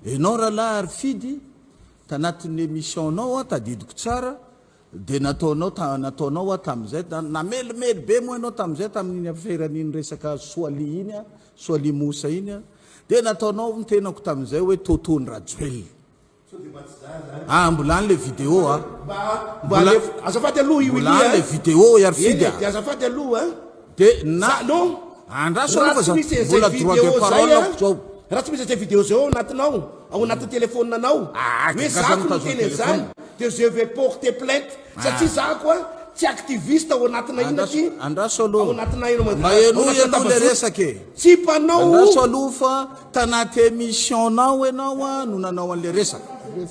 Enao ralahy Arifidy, tanatin'ny emission nao an, tadidiko tsara, dia nataonao ta, nataonao hoa tamin'izay, na, namelimely be moa ianao tamin'izay tamin'iny aferan'iny resaka Soalia iny an, Soalia Moussa iny an, dia nataonao ny tenako tamin'izay hoe Toto ny Rajoelina. Sao dia mba tsy zah zany? Ah, mbola any le video a. Mba, mba alefo, azafady aloha i Willy a. Mbola any le video i Arifidy a. Eny e, dia azafady aloha a. De na Salon andraso aloha fa za mbola droit de parole aho zao. Raha tsy misy izay video izay ao anatinao, ao anatin'ny telephone-nanao, hoe za ko niteny an'izany, de je vais porter plainte, satria za koa tsy activiste ao anatinay inona aty, Andraso ao aloha. anatinay eny Mba Manjary, ao henoy anatin'ny aloha ilay tambazotra. resaka e. Tsy mpanao. Andraso aloha fa tanaty émission-nao ianao no nanao an'ilay resaka.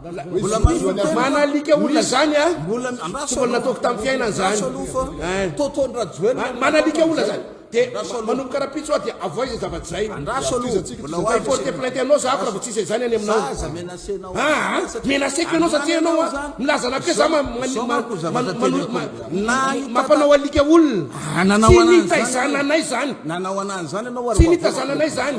Mbola mazoa ny azo manalika olona zany a mbola mbola nataoko tamin'ny fiainana zany toto ndrajoelina manalika olona zany de manomboka rapitso a dia avoay zay zava zay andraso aloha mbola ho porte plainte anao za raha vao tsisy izany any aminao aza menacena ah menaceko ianao satria ianao a milaza anakay za mampanao alika olona tsy nitazananay zany nanao anazy zany ianao tsy nitazananay zany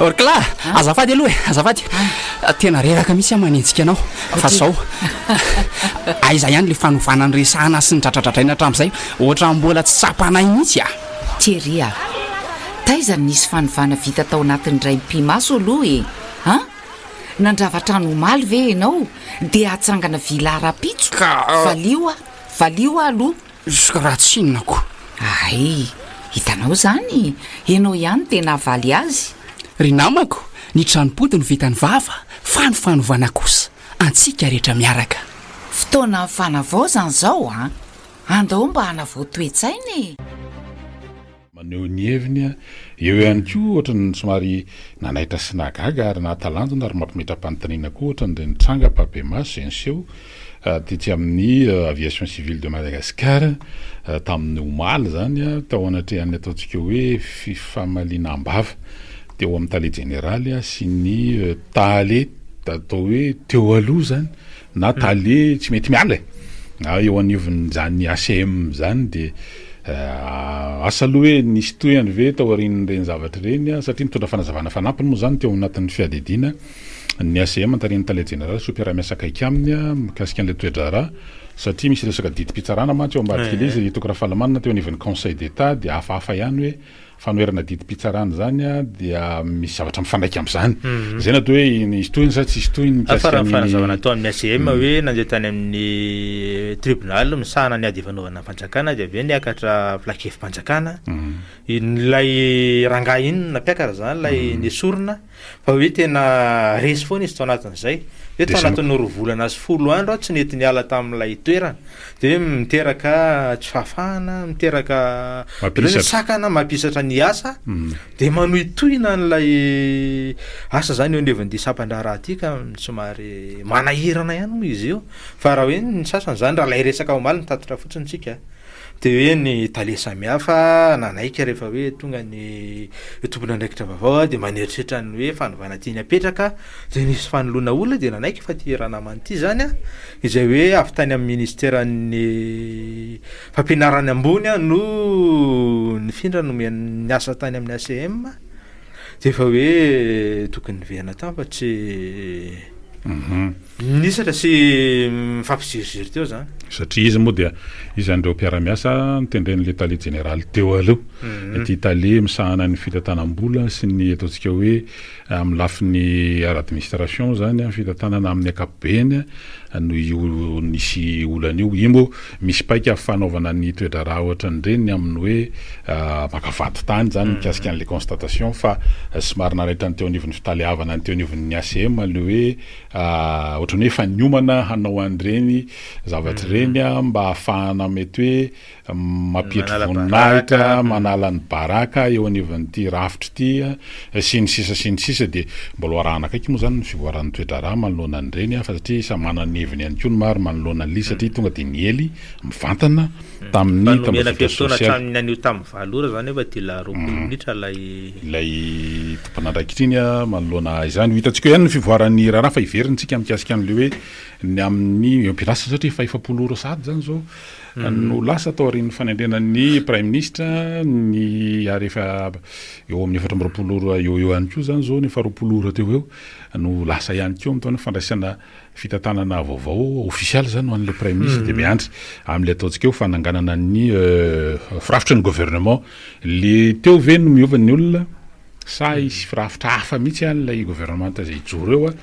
Orkla, azafady aloha e, azafady, tena reraka mihitsy aho manenjika anao, fa zao, aiza ihany le fanovana niresahana sy nidradradradraina hatramin'izay, ohatran'ny mbola tsy tsapanay mihitsy a. Thierry a! Taiza no nisy fanovana vita tao anatin'ny raim-pimaso aloha e! an? Nandrava trano omaly ve ianao dia hatsangana villa rahampitso? Ka, ah. Valio aho, valio aho aloha. Izy raha tsinona ko. Ay, hitanao izany, ianao ihany dia nahavaly azy. Ry namako, ny tranom-pody no vitan'ny vava, fa ny fanovana kosa antsika rehetra miaraka. Fotoanan'ny fanavaozana izao an! Andao mba hanavao toe-tsaina e! maneho ny heviny eo ihany koa ohatran'ny somary nanaitra sy nahagaga ary nahatalanjona ary mampimetram-panontaniana koa ohatran'ireny tranga ampahibemaso izay niseho tetsy amin'ny Aviation Civile de Madagascar tamin'ny omaly izany tao anatrehan'ny ataontsika hoe fifamaliana am-bava teo amin'ny tale jeneraly sy ny tale atao hoe teo aloha izany na tale tsy mety miala e! na eo anivon'izany ACM zany de asa aloha hoe nisy tohiny ve taorian'ireny zavatra ireny an! satria nitondra fanazavana fanampiny moa zany teo anatin'ny fiadidiana ny ACM notarihin'ny tale jeneraly sy mpiara-miasa akaiky aminy an! mikasika an'ilay toe-draharaha satria misy resaka didim-pitsarana mantsy eo ambadik'ilay izy, Toky Rafalimanana teo anivon'ny conseil d'Etat dia hafahafa ihany hoe. fanoherana didim-pitsarana izany dia misy zavatra mifanaiky amin'izany. Izay natao hoe hisy tohiny sa tsy hisy tohiny mikasika ny... Fa raha ny zava-nataon'ny ACM hoe nandeha tany amin'ny tribonaly misahana ny ady ifanaovana ny fanjakana dia avy eo niakatra filankevi-panjakana, ilay rangahy inona mpiakatra izany ilay nesorina, Fa hoe tena resy foana izy tao anatin'izay. Hoe tao anatin'ny roa volana sy folo andro aho tsy nety niala tamin'ilay toerana. Dia hoe miteraka tsy fahafahana, miteraka sakana, mampisatra ny asa. Dia manohitohina an'ilay asa izany eo anivon'ity sampan-draharaha ity ka somary manahirana ihany moa izy io. Fa raha hoe ny sasany izany, raha ilay resaka omaly no tatitra fotsiny isika. Dia hoe ny tale samihafa nanaiky rehefa hoe tonga ny tompon'andraikitra vaovao dia maneritreritra ny hoe fanovana tiany hapetraka dia nisy fanoloana olona dia nanaiky fa ity ranamana ity izany izay hoe avy tany amin'ny ministeran'ny fampianarana ambony no nifindra nomena niasa tany amin'ny ACM dia efa hoe tokony niverina tany fa tsy Minisatra sy mifampiziriziry teo zany. Satria izy moa dia izan'ireo mpiara-miasa notendren'ilay tale jeneraly teo aloha. Ity tale misahana ny fitantanam-bola sy ny ataontsika hoe amin'ny lafiny ara-administration izany ny fitantanana amin'ny ankapobeny no io nisy olana io. Io moa misy paika fanaovana ny toe-draharaha ohatran'ireny amin'ny hoe maka vadin-tany izany mikasika an'ilay constatation fa somary nanaitra ny teo anivon'ny fitaleavana ny teo anivon'ny ACM ilay hoe Ohatran'ny hoe efa niomana hanao an'ireny zavatra ireny mba hahafahana mety hoe mampietry voninahitra, manala ny baraka eo anivon'ity rafitra ity sy ny sisa sy ny sisa. Dia mbola ho arahana akaiky moa izany ny fivoaran'ny toe-draharaha manoloana an'ireny fa satria samy manana ny heviny ihany koa ny maro manoloana an'ily satria tonga dia niely mivantana tamin'ny tambajotra sosialy. Ilay tompon'andraikitra iny manoloana izany. Ho hitantsika eo ihany ny fivoaran'ny raharaha fa heverintsika mikasika an'ilay hoe ny amin'ny ampiarasa satria efa efapolo ora sahady izany izao no lasa tao aorian'ny fanendrena ny praiminisitra ny ary efa eo amin'ny efatra amby roapolo ora eo eo ihany koa izany izao ny faharoapolo ora teo eo no lasa ihany koa amin'itony fandraisana Fitantanana vaovao ofisialy izany ho an'ilay Praiminisitra dia miandry amin'ilay ataontsika hoe fananganana ny firafitry ny Gouvernement. Ilay teo ve no miova ny olona sa hisy firafitra hafa mihitsy an ilay Gouvernementa izay hijoro eo?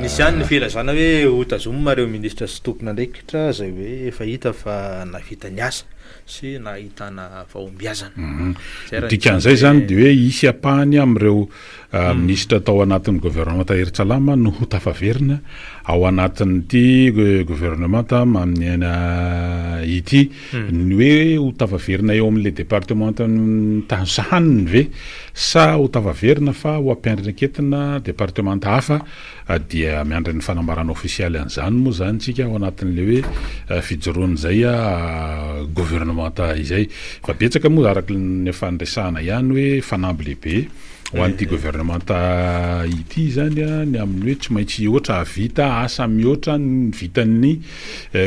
Misy ihany ny filazana hoe hotazomina ireo Minisitra sy tompon'andraikitra izay hoe efa hita fa nahavita ny asa sy nahitana fahombiazana. Ny dikan'izay izany dia hoe hisy ampahany amin'ireo Minisitra tao anatin'ny governemanta Hery Tsalama no ho tafaverina ao anatin'ity governemanta amin'ny aina ity. Ny hoe ho tafaverina eo amin'ilay departemantan'ny tany sahaniny ve sa ho tafaverina fa ho ampiandraiketina departemanta hafa a dia miandry ny fanambarana ofisialy an'izany moa izany tsika ao anatin'ilay hoe fijoroan'izay a governemanta izay fa betsaka moa araka ny efa niresahana ihany hoe fanamby lehibe ho an'ity governemanta ity izany a ny amin'ny hoe tsy maintsy hihoatra havita asa mihoatra ny vitan'ny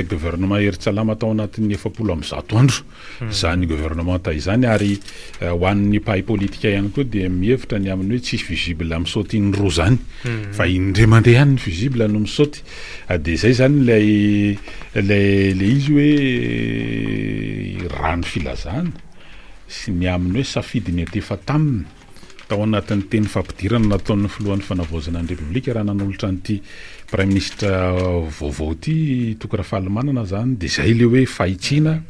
governemanta Heritsalama tao anatin'ny efapolo amin'ny zato andro izany governemanta izany ary ho an'ny mpahay politika ihany koa dia mihevitra ny amin'ny hoe tsisy fusible misaoty indroa izany fa indray mandeha ihany ny fusible no misaoty dia izay izany ilay ilay ilay izy hoe raha ny filazana sy ny amin'ny hoe safidy mety efa taminy Tao anatin'ny teny fampidirana nataon'ny filohan'ny Fanavaozana ny Repoblika raha nanolotra an'ity Praiminisitra vaovao ity Toky Rafalimanana izany dia izay ilay hoe fahitsiana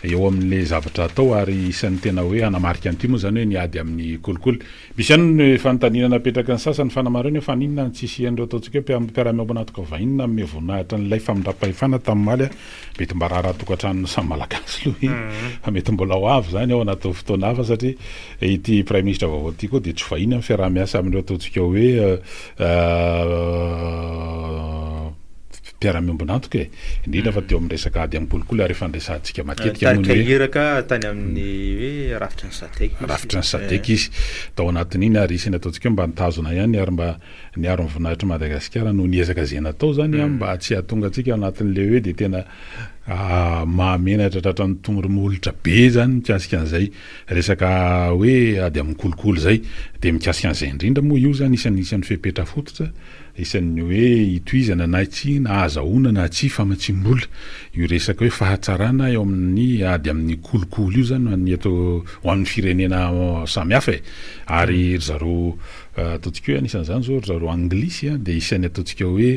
eo amin'ilay zavatra hatao ary isan'ny tena hoe hanamarika an'ity moa izany hoe ny ady amin'ny kolikoly. Misy ihany ny fanontaniana napetraky ny sasany fanamarihana hoe faninona no tsy hisian'ireo ataontsika hoe mpiara-miombon'antoka vahiny nanome voninahitra an'ilay famindram-pahefana tamin'ny omaly Mety mba raharahan-tokantranon'ny samy Malagasy aloha e! Fa mety mbola ho avy izany ao anatin'ny fotoana hafa satria ity Praiminisitra vaovao ity koa dia tsy vahiny amin'ny fiaraha-miasa amin'ireo ataontsika hoe mpiara-miombon'antoka e! Indrindra fa teo amin'ny resaka ady amin'ny kolikoly ary efa niresahantsika matetika moa ny hoe. Nitarika iraka tany amin'ny hoe rafitry ny Sadec izy. Rafitry ny Sadec izy tao anatin'iny ary isan'ny ataontsika hoe mba nitazona ihany ary mba Niaro ny voninahitr'i Madagasikara noho ny ezaka izay natao izany an, mba tsy hahatonga antsika ao anatin'ilay hoe dia tena mahamenatra tratran'ny tongony molotra be izany mikasika an'izay resaka hoe ady amin'ny kolikoly izay. Dia mikasika an'izay indrindra moa io izany isan'ny isan'ny fepetra fototra, isan'ny hoe itohizana na tsia na ahazahoana na tsia famatsiam-bola io resaka hoe fahatsarana eo amin'ny ady amin'ny kolikoly io izany ho an'ny eto ho an'ny firenena samihafa e! Ary ry zareo Ataontsika hoe anisan'izany izao ry zareo anglisy dia isan'ny ataontsika hoe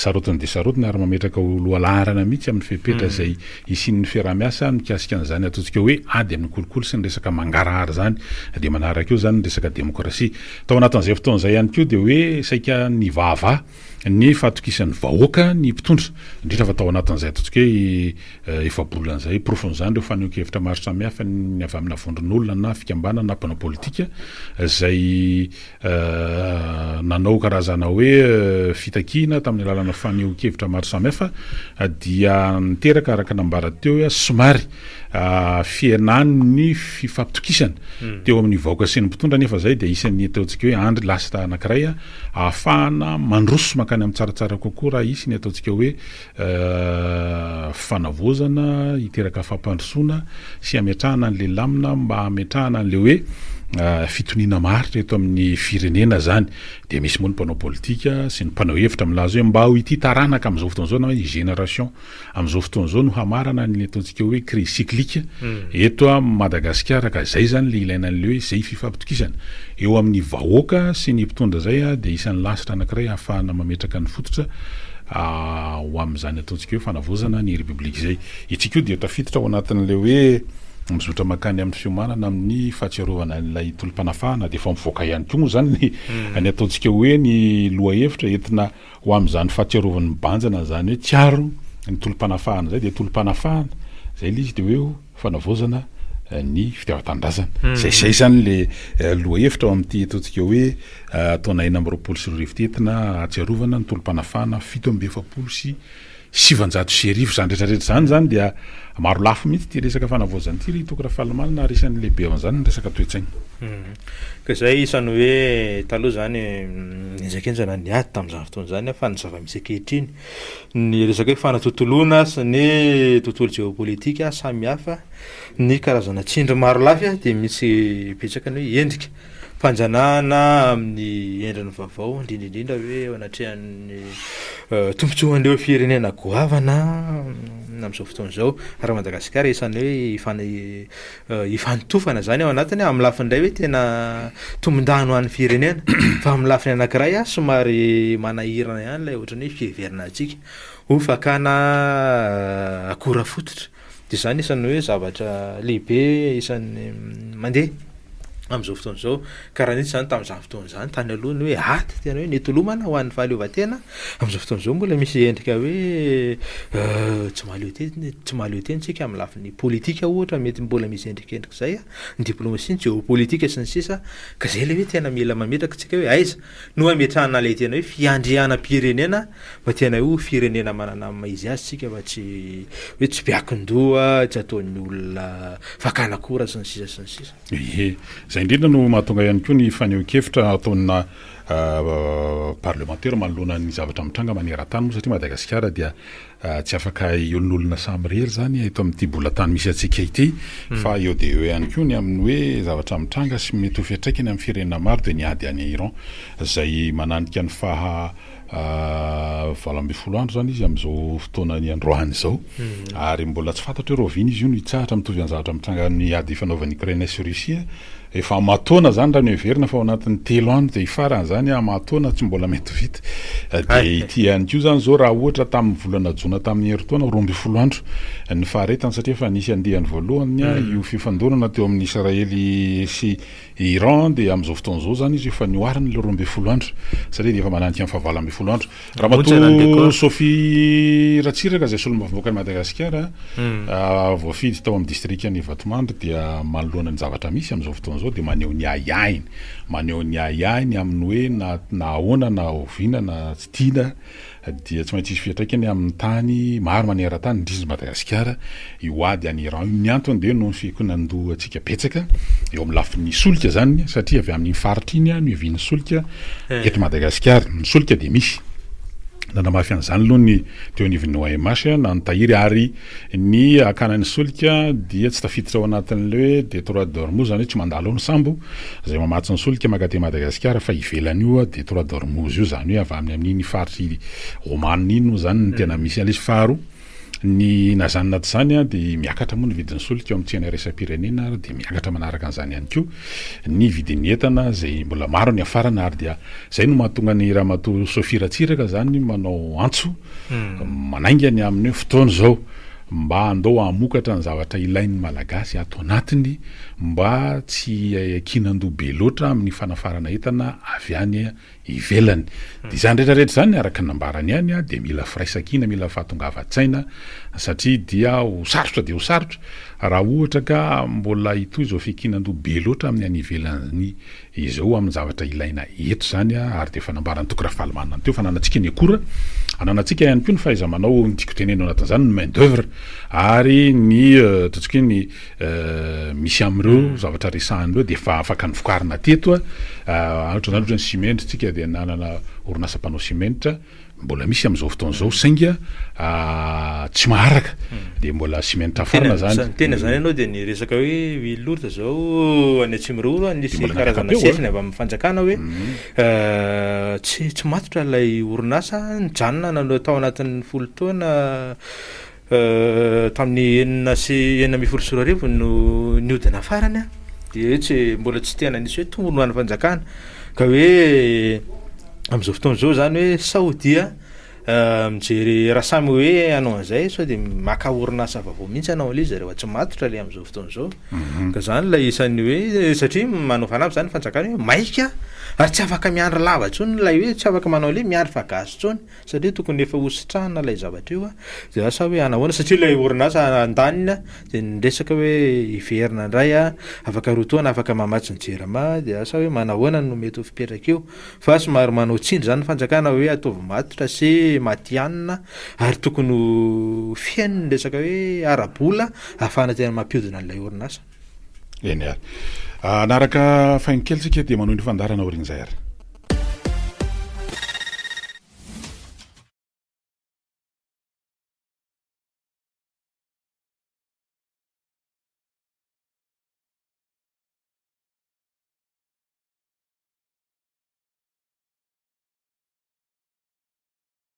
sarotiny dia sarotiny ary mametraka ho lohalaharana mihitsy amin'ny fepetra izay hisian'ny fiaraha-miasa mikasika an'izany ataontsika hoe ady amin'ny kolikoly sy ny resaka mangarahara izany dia manaraka eo izany ny resaka demokrasia. Tao anatin'izay fotoana izay ihany koa dia hoe saika nivahavaha ny fahatokisan'ny vahoaka ny mpitondra, indrindra fa tao anatin'izay ataontsika hoe efa-bolana izay. Porofon'izany ireo fanehoan-kevitra maro samihafa, ny avy amina vondron'olona na fikambanana na mpanao politika, izay nanao karazana hoe fitakiana tamin'ny alalana fanehoan-kevitra maro samihafa, dia niteraka, araka ny nambara teo, somary fihenan'ny fifampitokisana teo amin'ny vahoaka sy ny mpitondra, nefa izay dia isan'ny ataontsika hoe andry lasta anankiray. Ahafahana mandroso mankany amin'ny tsaratsara kokoa raha hisy ny ataontsika hoe fanavaozana hiteraka fampandrosoana sy hametrahana an'ilay lamina mba hametrahana an'ilay hoe fitoniana maharitra eto amin'ny firenena izany. Dia misy moa ny mpanao politika sy ny mpanao hevitra milaza hoe mba ho ity taranaka amin'izao fotoana izao na hoe ny génération Amin'izao fotoana izao no hamarana ny ataontsika hoe crise cyclique eto Madagasikara ka izay izany ilay ilaina an'ilay hoe izay fifampitokisana eo amin'ny vahoaka sy ny mpitondra izay dia isan'ny lasitra anankiray ahafahana mametraka ny fototra ho amin'izany ataontsika hoe fanavaozana ny Repoblika izay. Ity koa dia tafiditra ao anatin'ilay hoe mizotra mankany amin'ny fiomanana amin'ny fahatsiarovana an'ilay tolom-panafahana dia efa mivoaka ihany koa moa izany ny ataontsika hoe ny lohahevitra entina ho amin'izany fahatsiarovany mibanjina an'izany hoe tsiaro ny tolom-panafahana izay dia tolom-panafahana izay ilay izy dia hoe ho fanavaozana ny fitiavan-tanindrazana. Izay izay izany ilay lohahevitra ao amin'ity ataontsika hoe taona enina amby roapolo sy roa arivo ity entina ahatsiarovana ny tolom-panafahana fito amby efapolo sy sivanjato sy arivo. Izany rehetra rehetra izany izany dia marolafy mihitsy ity resaka fanavaozana ity ry Toky Rafalimanana ary isan'ny lehibe ao amin'izany ny resaka toe-tsaina. Ka izay isan'ny hoe taloha izany henjakenjana ny ady tamin'izany fotoana izany an, fa ny zava-misy ankehitriny, ny resaka hoe fanatontoloana sy ny tontolo jeopolitika samihafa, ny karazana tsindry marolafy dia misy betsaka ny hoe endrika fanjanahana amin'ny endriny vaovao, indrindra indrindra hoe eo anatrehan'ny tombontsoan'ireo firenena goavana amin'izao fotoana izao, ary Madagasikara isan'ny hoe hifana- hifanotofana izany ao anatiny amin'ny lafiny iray hoe tena tombondano ho an'ny firenena fa amin'ny lafiny anankiray somary manahirana ihany ilay ohatran'ny hoe fiheverana antsika ho fakana akora fototra. de zany isan'ny hoe zavatra lehibe isan'ny mandeha am'zao fotoana zao, karaha nitsy zany tam'zany fotoana zany tany aloha ny hoe ady tena hoe nitolomana ho an'ny fahaleovantena, am'zao fotoana zao mbola misy endrika hoe tsy mahaleo tena tsy mahaleo tena tsika amin'ny lafiny politika ohatra mety mbola misy endrikendrik'zay a, ny diplomasia, ny geopolitika sy ny sisa, ka zay le hoe tena mila mametraka tsika hoe aiza No ametrahana ilay tena hoe fiandrianam-pirenena fa tena hoe firenena manana ny maha izy azy isika fa tsy hoe tsy be akin-doha, tsy ataon'ny olona fakana akora sy ny sisa sy ny sisa. Ie. Izay indrindra no mahatonga ihany koa ny fanehoan-kevitra ataona parlemantera manoloana ny zavatra mitranga maneran-tany moa satria Madagasikara dia Tsy afaka hiolin'olona samirery izany eto amin'ity bolatany misy antsika ity, fa eo dia eo ihany koa ny amin'ny hoe zavatra mitranga sy mety ho fiantraikany amin'ny firenena maro dia ny ady any Iran, izay mananika ny faha valo ambin'ny folo andro izany izy amin'izao fotoana niandroany izao, ary mbola tsy fantatra hoe rahoviana izy io no hitsahatra, mitovy amin'ny zavatra mitranga amin'ny ady ifanaovan'i Ukraine sy Russie, Efa amataona zany raha noheverina fa ao anatin'ny telo andro dia hifarana zany an, amataona tsy mbola mety ho vita. Dia ity ihany koa zany zao raha ohatra tamin'ny volana jona tamin'ny herintaona roa ambin'ny folo andro ny faharetany satria efa nisy andiany voalohany io fifandonana teo amin'ny Israely sy Iran dia amin'izao fotoana izao zany izy efa nihoarina ilay roa ambin'ny folo andro satria dia efa mananika ny fahavalo ambin'ny folo andro. Ramatoa Sophie Ratsiraka izay solombavambahoakan'i Madagasikara hmm. voafidy tao amin'ny distrikan'i Vatomandry dia manoloana ny zavatra misy amin'izao fotoana izao dia maneho ny ahiahiny. Maneho ny ahiahiny amin'ny hoe na na ahoana na oviana na tsy tiana dia tsy maintsy hisy fiantraikany amin'ny tany maro maneran-tany indrindra Madagasikara Io ady any Iran io, ny antony dia noho ny fikonan-dohantsika betsaka eo amin'ny lafiny solika izany satria avy amin'iny faritra iny no ihavian'ny solika eto Madagasikara. Ny solika dia misy. Nanamafy an'izany aloha ny teo anivon'ny OMH, na ny tahiry ary ny hakana ny solika dia tsy tafiditra ao anatin'ilay hoe Détroit d'Ormuz, izany hoe tsy mandalo ao ny sambo izay mamatsy ny solika maka aty Madagasikara fa ivelan'io Détroit d'Ormuz io, izany hoe avy amin'ny amin'iny faritra Oman iny moa izany no tena misy an'ilay izy. Faharoa. Ny na izany na tsy izany dia miakatra moa ny vidin'ny solika ao amin'ny tsena iraisam-pirenena ary dia miakatra manaraka an'izany ihany koa ny vidin'ny entana izay mbola maro ny hafarana ary dia izay no mahatonga ny ramatoa Sophie Ratsiraka izany manao antso hmm. manainga ny amin'ny fotoana izao mba andao hamokatra ny zavatra ilain'ny malagasy ato anatiny mba tsy iakinan-doha be loatra amin'ny fanafarana entana avy any ivelany. Dia izany rehetra rehetra izany araka ny nambarany ihany dia mila firaisankina, mila fahatongavan-tsaina satria dia ho sarotra dia ho sarotra raha ohatra ka mbola hitohy izao fikinan-doha be loatra amin'ny any ivelany izao amin'ny zavatra ilaina eto izany ary dia efa nambaran'i Toky Rafalimanana teo fa ananantsika ny akora, ananantsika ihany koa ny fahaiza-manao ny tiako tenenina ao anatin'izany ny main d'oeuvre ary ny ataontsika hoe ny misy amin'ireo zavatra resahina ireo dia efa afaka novokarina teto ohatra izany ohatra ny simenitra tsika dia nanana orinasa mpanao simenitra mbola misy amin'izao fotoana izao sainga tsy maharaka dia mbola simenitra farina zany tena zany ianao dia ny resaka hoe huile lourde izao any atsimiroro any nisy karazana sesina avy amin'ny fanjakana hoe tsy tsy matotra ilay orinasa nijanona nanao tao anatin'ny folo taona Tamin'ny enina sy enina ambin'ny folo sy roa arivo no nihodina farany an, de hoe tsy mbola tsy tena nisy hoe tombony ho an'ny fanjakana ka hoe amin'izao fotoana izao zany hoe sao dia mijery raha samy hoe hanao an'izay sao de maka orinasa vaovao mihitsy hanao an'le izy zareo fa tsy matotra le amin'izao fotoana izao, ka zany lay isan'ny hoe satria manao fanamby zany ny fanjakana hoe maika ary tsy afaka miandry lava intsony lay hoe tsy afaka manao le miandry fa gasy intsony satria tokony efa hositrahana ilay zavatra io dia asa hoe anahoana satria ilay orinasa andaniny dia niresaka hoe hiverina indray a, afaka roa taona afaka mamatsy ny jirama dia asa hoe manahoana no mety ho fipetraka io fa somary manao tsindry izany ny fanjakana hoe ataovy matotra sy matihanina ary tokony ho feno ny resaka hoe ara-bola ahafahana tena mampihodina an'ilay orinasa. Eny ary. Ah, hanaraka faingo kely tsika dia manohy ny fandarana aorian'izay ary.